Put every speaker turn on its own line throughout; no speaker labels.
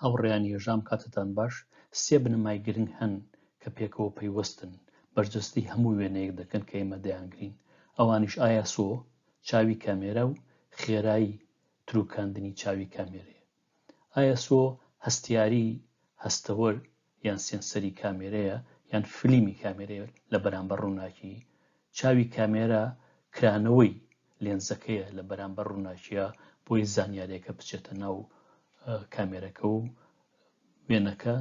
هاوڕێیان یەژام کاتتان باش، سێ بنەمای گرنگ هەن کە پێکەوە پەیوەستن، بەرجەستەی هەموو وێنەیەک دەکەن کە ئێمە دەیانگرین، ئەوانیش ئایاسۆ، چاوی کامێرا، و خێرایی تروکاندنی چاوی کامێرەیە. ئایاسۆ هەستیاری، هەستەوەر، یان سێنسەری کامێرەیە یان فلیمی کامێرەیە لە بەرامبەر ڕووناکی چاوی کامێرە کرانەوەی لێنزەکەیە لە بەرامبەر ڕووناکیە بۆی زانیارێکە بچێتە ناو کامێرەکە و وێنەکە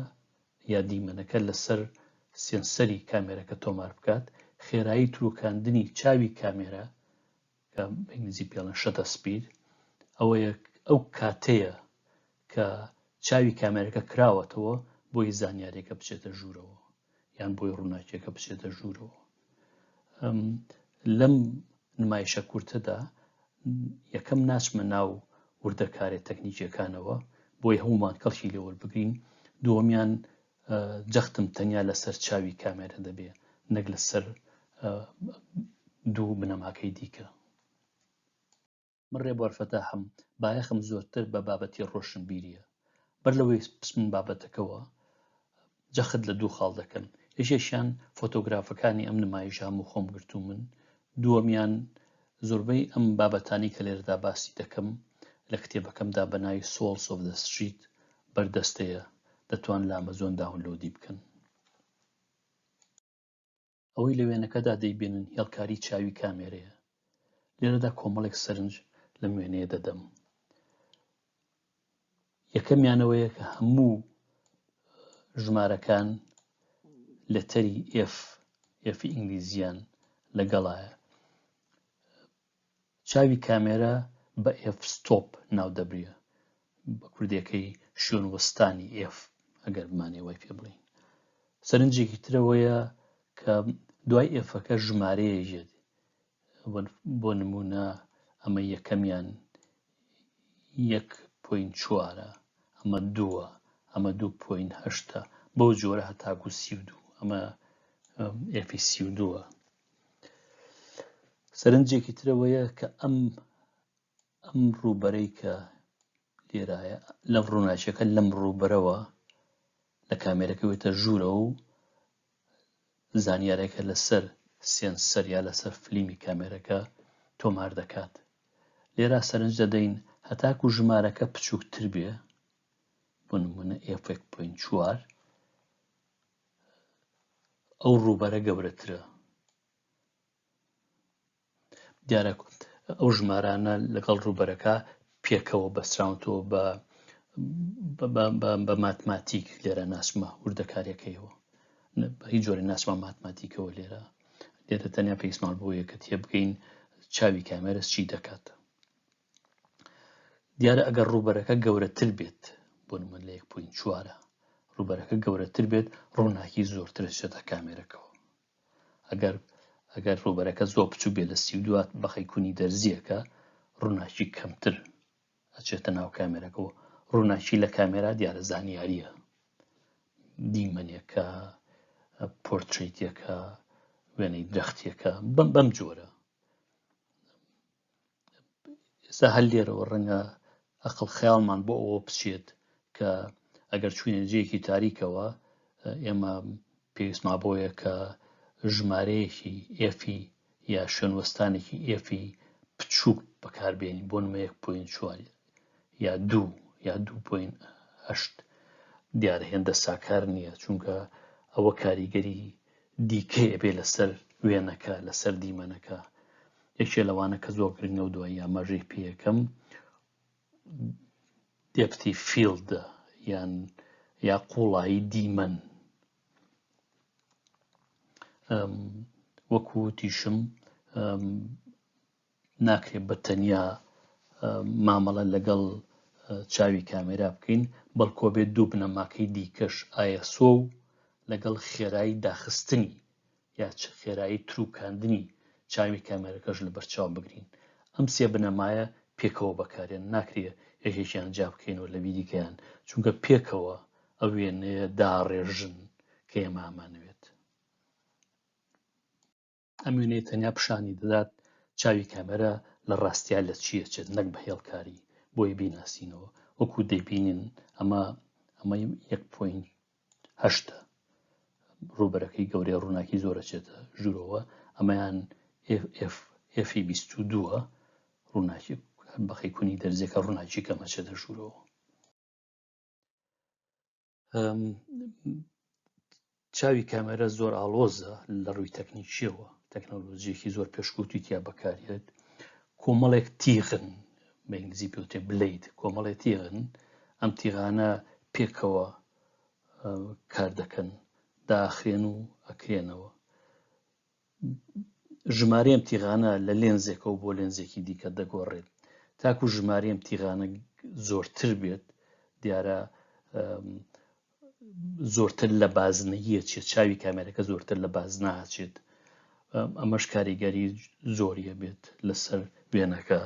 یا دیمەنەکە لەسەر سێنسەری کامێرەکە تۆمار بکات خێرایی تروکاندنی چاوی کامێرە کە بە ئینگلیزی پێ دەڵێن شەتە سپید ئەوەیە ئەو کاتەیە کە چاوی کامێرەکە کراوەتەوە بۆی زانیارێکە بچێتە ژوورەوە یان بۆی ڕووناکیەکە بچێتە ژوورەوە لەم نمایشە کورتەدا یەکەم ناچمە ناو وردەکارێت تەکنیکیەکانەوە بۆی هەمومان کەڵکی لێوەربگرین دووەمیان جەختم تەنیا لەسەر چاوی کامێرە دەبێ نەک لەسەر دوو بنەماکەی دیکە من ڕێبوارفەتا هەم بایەخم زۆرتر بە بابەتی ڕۆشن بیریە بەر لەوەی پسمن بابەتەکەەوە جەخت لە دوو خاڵ دەکەن یەکێکیان فۆتۆگرافەکانی ئەم نمایشام و خۆم گرتو من دووەمیان زۆربەی ئەم بابەتانەی کە لێرەدا باسی دەکەم لە کتێبەکەمدا بە ناوی Souls of the Street بەردەستەیە، دەتوان لە ئەمەزۆن داونلۆدی بکەن. ئەوەی لە وێنەکەدا دەیبینن هێڵکاری چاوی کامێرەیە لێرەدا کۆمەڵێک سەرنج لەم وێنەیە دەدەم یەکەمیان ئەوەیە کە هەموو ژمارەکان لەتەری ئێف ئێفی ئینگلیزیان لەگەڵایە چاوی کامێرا بە ئێف ستۆپ ناو دەبریە بە کوردەکەی شوێن وەستانی ئێف ئەگەر بمانێ وای پێ بڵین سەرنجێکی ترەوەیە کە دوای ئێفەکە ژمارەیە یەت بۆ نموونە ئەمە یەکەمیان یەک پوین چوارە ئەمە دووە ئەمە دوو پوین هەشتە بەو جۆرە هەتاکو سی و دوو ئەمە ئێفی سی و دووە سەرنجێکی ترەوەیە کە ئەم ئەم ڕووبەرەی کە لێرایە لە ڕووناچەکە لەم ڕووبەرەوە لە کامێرەکە وێتە ژوورە و زانیارێکە لەسەر سێنسەر یا لەسەر فلیمی کامێرەکە تۆمار دەکات لێرا سەرنج دەدەین هەتاکو ژمارەکە بچووکتر بێ بۆ نمونە ئفێک پوین چوار ئەو ڕووبەرە گەورەترە دیارە ئەو ژمارانە لەگەڵ ڕووبەرەکە پێکەوە بەستراونەوە بە بە ماتماتیک لێرە ناسمە وردەکاریەکەیەوە هیچ جۆرە ناسمە ماتماتیکەوە لێرە لێرە تەنیا پێیسمان بۆ یەکە تێبگەین چاوی کامێرەس چی دەکات دیارە ئەگەر ڕووبەرەکە گەورەتر بێت بۆ من لە 1.4 ڕووبەرەکە گەورەتر بێت ڕووناکی زۆرترشێتە کامێرەکەەوە ئەگەر ئەگەر ڕووبەرەکە زۆر بچوک بێ لە سی و دوات بەخی کونی دەرزیەکە ڕووناکی کەمتر ئەچێتە ناو کامێرەکەەوە ڕووناکی لە کامێرا دیارە زانیاریە دیمەنێکە پۆرتریتەکە وێنەی درەختێکە بم بەم جۆرە ئێستا هەر لێرەوە ڕەنگە ئەقل خەیاڵمان بۆ ئەوە بچێت کە ئەگەر چوینە جێکی تاریکەوە ئێمە پێویستما بۆیە کە ژمارەیەکی ئێفی یا شوێنوەستانێکی ئێفی بچووک بەکاربیێنین بۆ نمە 1.4 یا دوو یا دوو پوین هەشت دیار هێندە ساکار نییە چونکە ئەوە کاریگەری دیکەی ئەبێ لەسەر وێنەکە لەسەر دیمەنەکە یەکێ لەوانە کە زۆر گرنگە و دوای یامەژەی پێیەکەم دێپتی فیلدە یان یا قوڵایی دیمەن وەکو تیشم ناکرێت بە تەنیا مامەڵە لەگەڵ چاوی کامێرا بکەین بەڵکۆ بێت دوو بنەماکەی دیکەش ئایسۆ و لەگەڵ خێرایی داخستنی یا چ خێرایی تروکاندنی چاوی کامێرەکەش لە بەرچاو بگرین ئەم سێ بنەمایە پێکەوە بەکارێن ناکرێ یەکێکیان جا بکەین و لە بیریکەیان چونکە پێکەوە ئە وێنەیە داڕێژن کە ئێمامانەوێت ئەم وێنەی تەنیا پیشانی دەدات چاوی کامێرا لە ڕاستیا لە چیە چێت نەک بە هێڵکاری بۆی بیناسینەوە وەکو دەبینین ئەمە ئەمە یەک پوین هەشتە ڕوبەرەکەی گەورەی ڕووناکی زۆرە چێتە ژوورەوە ئەمەیان ئفی بیست و دووە ڕووناکی بەقی کونی دەرزەکە ڕووناکی کەمەچێتە ژوورەوە چاوی کامێرە زۆر ئاڵۆزە لە ڕووی تەکنیکیەوە تەکنەلۆژیەکی زۆر پێشکوتی تیا بەکارێت کۆمەڵێک تیغن بە ئینگلیزی پێوتێ بلیت کۆمەڵێ تیغن ئەم تیغانە پێکەوە کار دەکەن داخرێن و ئەکرێنەوە ژمارەی ئەم تیغانە لە لێنزێکەوە بۆ لێنزێکی دیکە دەگۆڕێت تاکو ژمارەی ئەم تیغانە زۆرتر بێت دیارە زۆرتر لە بازنەیە چێت چاوی کامێرەکە زۆرتر لە باز ناچێت ئەمەش کاریگەری زۆریە بێت لەسەر وێنەکە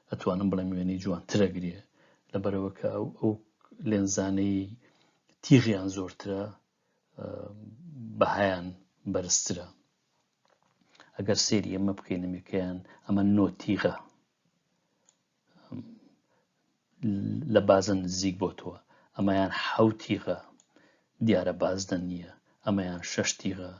ئەتوانم بڵێم وێنەی جوانترەگرێ لە بەرەوەکە ئەو لێنزانەی تیغیان زۆرترە بەهایان بەرزترە ئەگەر سێری ئەمە بکەین نمیکەیان ئەمە نۆتیغە لە بازە نزیک بۆ تۆ ئەمەیان حوتیغە دیارە بازدە نییە ئەمەیان شەشتیغە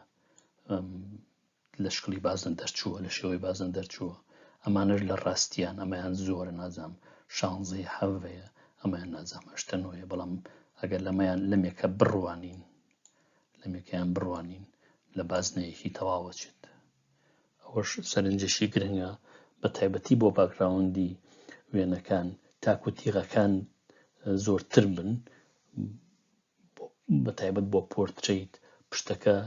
لە شکڵی بازنە دەرچووە لە شێوەی بازنە دەرچووە ئەمانەش لە ڕاستیان ئەمەیان زۆرە نازام شانزەیە حەڤەیە ئەمەیان نازام هەشتە نۆیە بەڵام ئەگەر لەمەیان لەمێکە بڕوانین لەمێکیان بڕوانین لە بازنەیەکی تەواوەچێت ئەوەش سەرنجێکی گرنگە بە تایبەتی بۆ باگراوندی وێنەکان تاکو تیغەکان زۆرتر بن بە تایبەت بۆ پۆرترەیت پشتەکە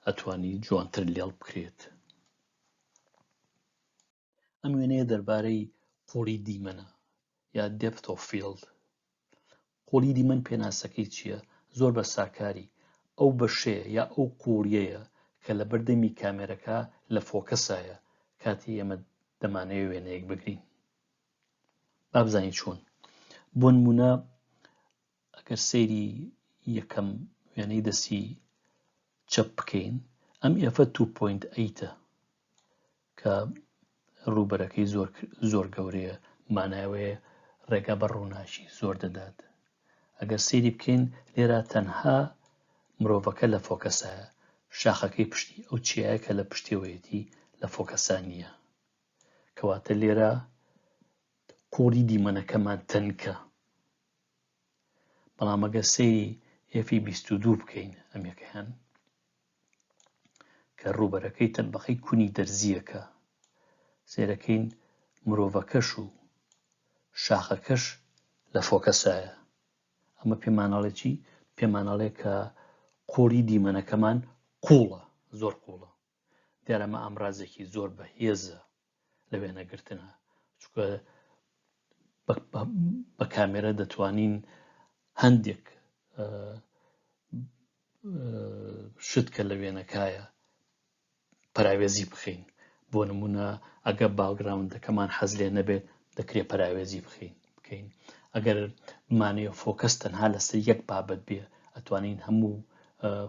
ئەتوانی جوانتر لێڵ بکرێت ئەم وێنەیە دەربارەی قوڵی دیمەنە یا دێپت و فیلد قوڵی دیمەن پێناسەکەی چییە زۆر بە ساکاری ئەو بەشەیە یا ئەو قوڵیەیە کە لە بەردەمی کامێرەکە لە فۆکەسایە کاتی ئێمە دەمانەوێ وێنەیەک بگرین بابزانین چۆن بۆ نمونە ئەگەر سەیری یەکەم وێنەی دەستی چەپ بکەین ئەم ئێفە 2.8ە کە ڕووبەرەکەی زۆر زۆر گەورەیە ماناوەیە ڕێگا بە ڕووناکی زۆر دەدات ئەگەر سێری بکەین لێرا تەنها مرۆڤەکە لە فۆکەسایە شاخەکەی پشتی ئەو چیایە کە لە پشتێوەیەتی لە فۆکەسانیە کەواتە لێرە قوڕی دیمەنەکەمان تەنکە بەڵام ئەگەر سەیری ئێفی بیست و دوو بکەین ئەم یەکەیان کە ڕووبەرەکەی تەبقەی کونی دەرزیەکە سێرەکەین مرۆڤەکەش و شاخەکەش لە فۆکەسایە ئەمە پێمانەڵێکی پێمانەڵێ کە قوڵی دیمەنەکەمان قوڵە زۆر قوڵە دیارە ئەمە ئامرازێکی زۆر بە هێزە لە وێنەگرتنە چکە بە کامێرە دەتوانین هەندێک شت کە لە وێنەکایە پراوێزی بخەین بۆ نمونە ئەگە باگراوندەکەمان حەز لێ نەبێت دەکرێت پراوێزی بخەین بکەین ئەگەر بمانەیە فۆکەس تەنها لەسەر یەک بابەت بێ ئەتوانین هەموو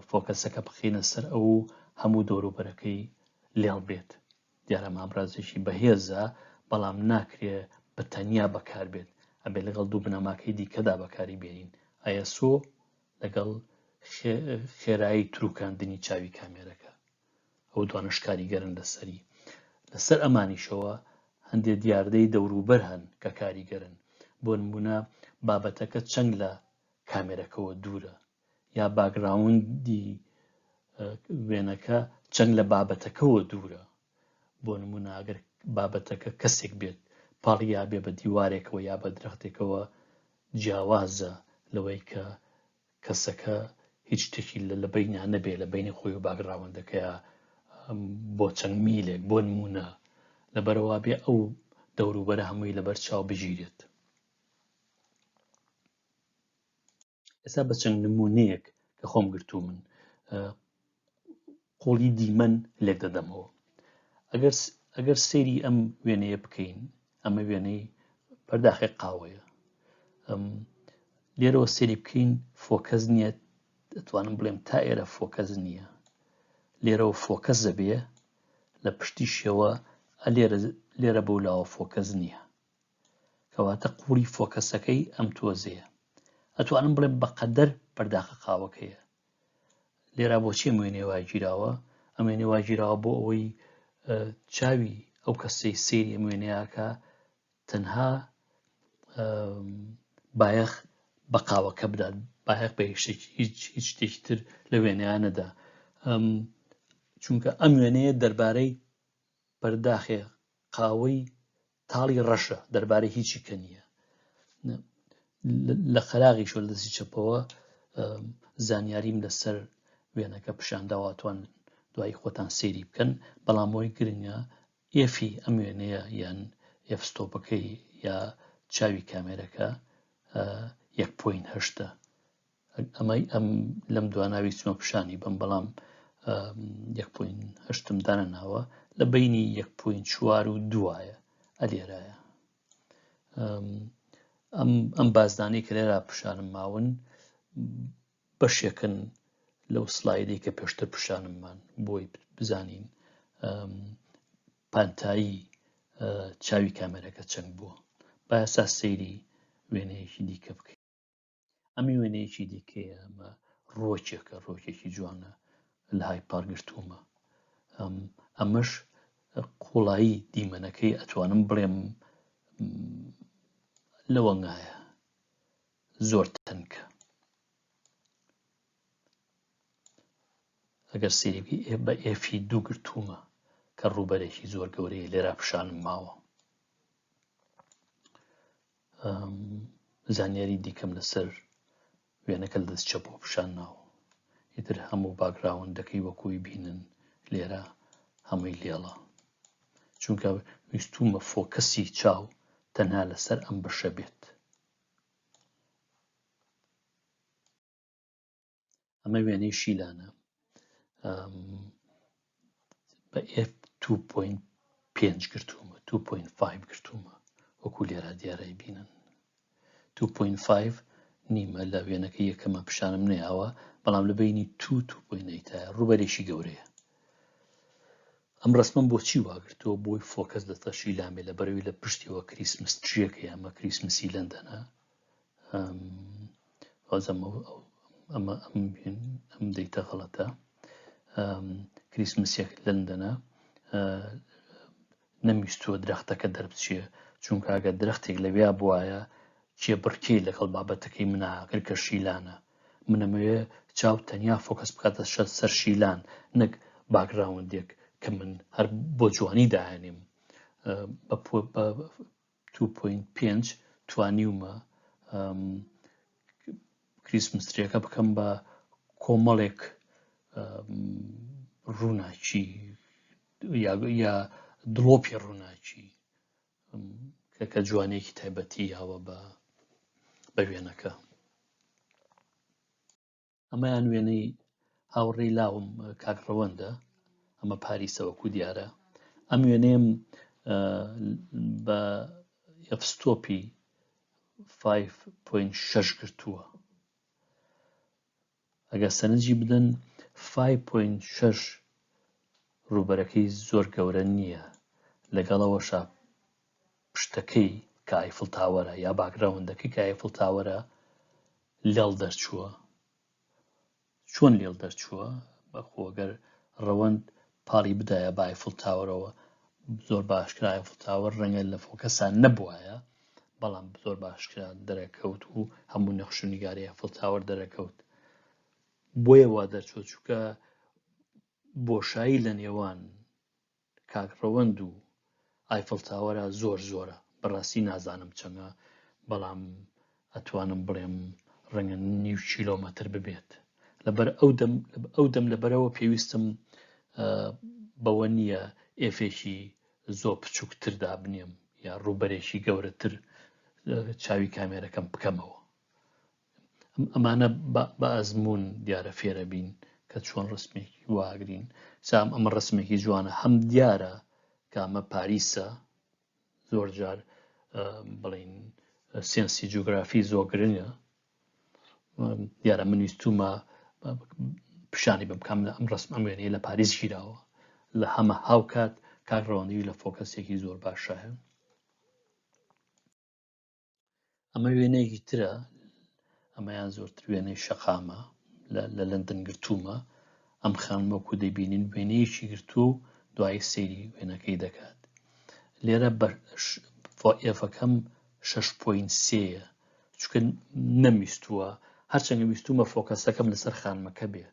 فۆکەسەکە بخینە سەر ئەو هەموو دۆروبەرەکەی لێڵ بێت دیارە مامرازێکی بەهێزە بەڵام ناکرێ بە تەنیا بەکار بێت ئەبێ لەگەڵ دوو بنەماکەی دیکەدا بەکاری بێنین ئایسۆ لەگەڵ خێرایی تروکاندنی چاوی کامێرەکە ئەو دوانەش کاریگەرن لەسەری لەسەر ئەمانیشەوە هەندێ دیاردەی دەوروبەر هەن کە کاریگەرن بۆ نمونە بابەتەکە چەند لە کامێرەکەەوە دوورە یا باگراوندی وێنەکە چەند لە بابەتەکەەوە دوورە بۆ نموناگەر بابەتەکە کەسێک بێت پاڵیا بێ بە دیوارێکەوە یا بە درەختێکەوە جیاوازە لەوەی کە کەسەکە هیچ شتێکی لە بەینیان نەبێ لە بینی خۆی و باگراوەندەکەیە بۆ چەند میلێک بۆ نمونە لە بەرەوا بێ ئەو دەوروبەرە هەمووی لەبەر چاو بگیرێت ئێستا بە چەند نمونەیەک کە خۆم گرتو من قۆڵی دیمەن لێک دەدەمەوە ئەگەر ئەگەر سێری ئەم وێنەیە بکەین ئەمە وێنەی پەرداخی قاوەیە لێرەوە سێری بکەین فۆکەس نییە دەتوانم بڵێم تا ئێرە فۆکەس نییە لێرەوە فۆکەس دەبێ لە پشتیشەوە لێرە لێرە بەو لاوە فۆکەس نییە کەواتە قوڵی فۆکەسەکەی ئەم تۆزەیە ئەتوانم بڵێم بەقەدەر پەرداخە قاوەکەیە لێرا بۆچی وێنێ واگیراوە ئەم وێنێ واگیراوە بۆ ئەوەی چاوی ئەو کەسەی سێری ئەم وێنەیەکە تەنها بایەخ بە قاوەکە بدات بایەخ بە هیچ شتێکی تر لە وێنەیانەدا چونکە ئەم وێنەیە دەربارەی پەرداخێ قاوەی تاڵی ڕەشە دەربارەی هیچی کە نییە لە قەراغی شۆ لە دەستی چەپەوە زانیاریم لەسەر وێنەکە پیشانداواتوان دوای خۆتان سێری بکەن بەڵام بۆی گرنگە ئێفی ئەم وێنەیە یان ئێفستۆپەکەی یا چاوی کامێرەکە یەک پوین هەشتە ئەمەی ئەم لەم دواناوی چمە پیشانی بم بەڵام یەک پوین هەشتم دانە ناوە لە بینی یەک پوین چوار و دوایە ئەلێرایە ئەم بازدانەی کە لێرا پیشانم ماون بەشێکن لەو سلایدی کە پێشتر پیشانممان بۆی بزانین پانتایی چاوی کامێرەکە چەند بووە باسا سەیری وێنەیەکی دیکە بکەین ئەمی وێنەیەکی دیکەیە ئەمە ڕۆچێکە ڕۆکێکی جوانە لە های پارگرتوومە ئەمەش قوڵایی دیمەنەکەی ئەتوانم بڵێم لەوەنگایە زۆر تەنکە ئەگەر سێبی ئێ بە ئێفی دوو گرتوومە کە ڕووبەرێکی زۆر گەورەیە لێرا پیشانم ماوە زانیاری دیکەم لەسەر وێنەکە لە دەست چەپ و پیشان ناوە ئیتر هەموو باگراوەندەکەی وەکوی بینن لێرە هەمووی لێڵە چونکە ویستومە فۆکەسی چاو تەنها لەسەر ئەم بەشە بێت ئەمە وێنەی شیلانە بە F 2.5 گرتوومە 2.5 گرتوومە وەکو لێرا دیارای بینن 2.5 نیمە لە وێنەکە یەکەمە پیشانم نەیاوە بەڵام لە بینی تو توپۆینەیتە ڕوبەرێکی گەورەیە ئەم ڕسمم بۆچی واگرتەوە بۆی فۆکەس دەتەشی لامێ لە بەرەوی لە پشتیەوە کریسمس تریەکە یامە کریسمسی لەندەنە ئەم ئەمە ئەم بێن ئەم دەیتە غەڵەتە کریسمسێک لندەنە نەمیستووە درەختەکە دەربچێ چونکە ئەگە درەختێک لەویا بواە چێ بڕکەی لەگەڵ بابەتەکەی مناگر کە شیلانە منەمەوێ چاو تەنیا فۆکەس بکاتە شە سەر شیلان نەک باگراوندێک کە من هەر بۆ جوانی داهێنیم دوو پۆینت پێنج توانیومە کریسمستریەکە بکەم بە کۆمەڵێک ڕووناکی یا دڵۆپی ڕووناکی کە کە جوانێکی تایبەتی یاوە بە بە وێنەکە ئەمەیان وێنەی هاوڕێی لاوم کاک ڕەوەندە ئەمە پاریسەوەکو دیارە ئەم وێنەیەم بە یەفستۆپی 5.6 گرتووە ئەگەر سەرنجی بدەن 5.6 ڕوبەرەکەی زۆر گەورە نییە لەگەڵەوەشە پشتەکەی کایفل تاوەرە یا باگراوندەکەی کایفل تاوەرە لێڵ دەرچووە چۆن لێڵ دەرچووە بەخۆ گەر ڕەوەند پاڵی بدایە بە ئایفڵ تاوەرەوە زۆر باشکرا ئایفڵ تاوەر ڕەنگە لە فۆکەسان نەبوایە بەڵام زۆر باشکرا دەرەکەوت و هەموو نەخش و نیگاری ئایفڵ تاوەر دەرەکەوت بۆیە وا دەرچوە چووکە بۆشایی لە نێوان کاک ڕەوەند و ئایفڵ تاوەرە زۆر زۆرە بەڕاستی نازانم چەنە بەڵام ئەتوانم بڵێم ڕەنگە نیو کیلۆمەتر ببێت لەبەر ئەو دەم ئەو دەم لەبەرەوە پێویستم بەوە نییە ئێفێکی زۆ بچووکتر دابنێم یا ڕووبەرێکی گەورەتر چاوی کامێرەکەم بکەمەوە ئەمانە بە ئەزمون دیارە فێرەبین کە چۆن ڕسمێکی واگرین سام ئەمە ڕسمێکی جوانە هەم دیارە کامە پاریسە زۆر جار بڵین سێنسی جوگرافی زۆ گرنگە دیارە من ویستومە پیشانی بم کام لە ئەم ڕسم ئەم وێنەیە لە پاریس گیراوە لە هەمە هاوکات کاک ڕەوەندی لە فۆکەسێکی زۆر باشە ئەمە وێنەیەکی ترە ئەمەیان زۆرتر وێنەی شەقامە لە لەندن گرتوومە ئەم خانمەکو دەبینین وێنەیەکی گرتووە و دوای سەیری وێنەکەی دەکات لێرە ئێفەکەم 6.3ە چکە نەمیستووە هەرچەنگە ویستومە فۆکەسەکەم لەسەر خانمەکە بێ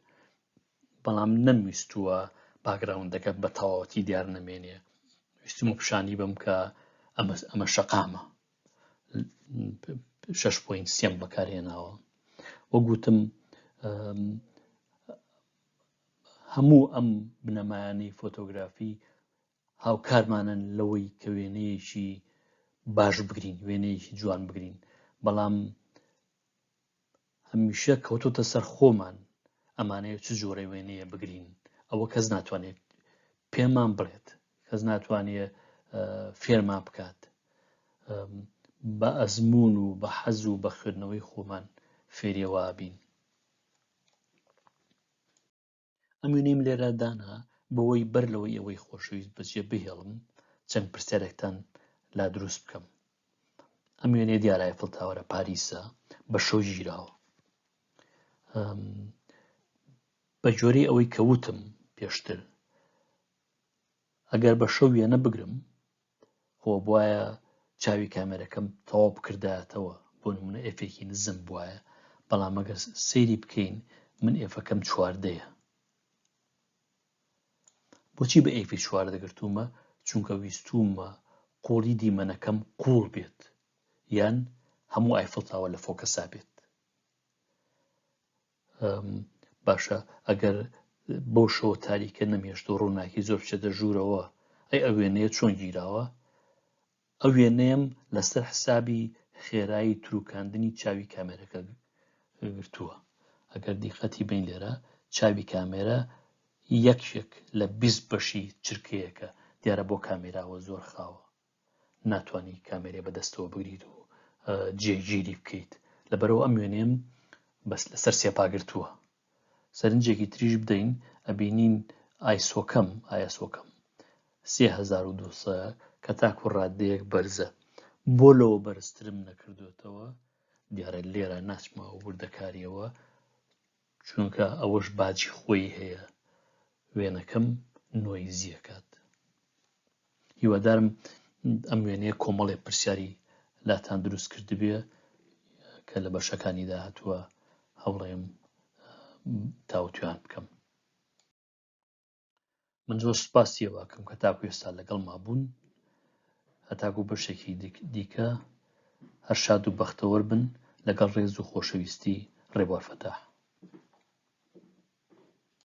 بەڵام نەمویستووە باکگراوندەکە بە تەواوەتی دیار نەمێنێ ویستمە پیشانی بم کە ئەمە ئەمە شەقامە شش پوین سیم بەکارهێناوە وە گوتم هەموو ئەم بنەمایانەی فۆتۆگرافی هاوکارمانن لەوەی کە وێنەیەکی باش بگرین وێنەیەکی جوان بگرین بەڵام هەمیشە کەوتۆتە سەر خۆمان ئەمانەیە چ جۆرە وێنەیە بگرین ئەوە کەس ناتوانێت پێمان بڵێت کەس ناتوانێت فێرمان بکات بە ئەزمون و بە حەز و بە خوێندنەوەی خۆمان فێریەوە بین ئەم وێنەیم لێرە دانا بەوەی بەر لەوەی ئەوەی خۆشەویست بەجێ بهێڵم چەند پرسیارێکتان لا دروست بکەم ئەم وێنێ دیارای فڵتاوەرە پاریسە بە شەو گیراوە بە جۆری ئەوەی کەوتم پێشتر ئەگەر بە شەو وێنە بگرم خۆ بوایە چاوی کامێرەکەم تەواو بکردایەتەوە بۆ نمونە ئێفێکی نزم بوایە بەڵام ئەگەر سەیری بکەین من ئێفەکەم چواردەیە بۆچی بە ئێفی چوار دەگرتوومە چونکە ویستومە قوڵی دیمەنەکەم قوڵ بێت یان هەموو ئایفڵتاوە لە فۆکەسا بێت باشە ئەگەر بەو شەوە تاریکە نەمێشت و ڕووناکی زۆر بچێتە ژوورەوە ئەی ئە وێنەیە چۆن گیراوە ئە وێنەیەم لەسەر حسابی خێرایی تروکاندنی چاوی کامێرەکە گرتووە ئەگەر دیقەتی بین لێرە چاوی کامێرە یەکێک لە بیست بەشی چرکەیەکە دیارە بۆ کامێراوە زۆر خاوە ناتوانی کامێرێ بەدەستەوە بگریت و جێگیری بکەیت لەبەرەوە ئەم وێنێم بەس لەسەر سێپاگرتووە سەرنجێکی تریش بدەین ئەبینین ئایسۆکەم ئایسۆکەم 3200 کە تاکو ڕادەیەک بەرزە بۆ لەوە بەرزترم نەکردوێتەوە دیارە لێرە ناچمەوە وردەکاریەوە چونکە ئەوەش باجی خۆی هەیە وێنەکەم نۆیزی ئەکات هیوادارم ئەم وێنەیە کۆمەڵێ پرسیاری لاتان دروست کردبێ کە لە بەشەکانی داهتووە هەوڵێم تاوتویان بکەم من زۆر سوپاسی ئەوەکەم کە تاکو ئێستا لەگەڵ مابوون هەتاکو بەشێکی دیکە هەر شاد و بەختەوەر بن لەگەڵ ڕێز و خۆشەویستی ڕێبوار فەتاح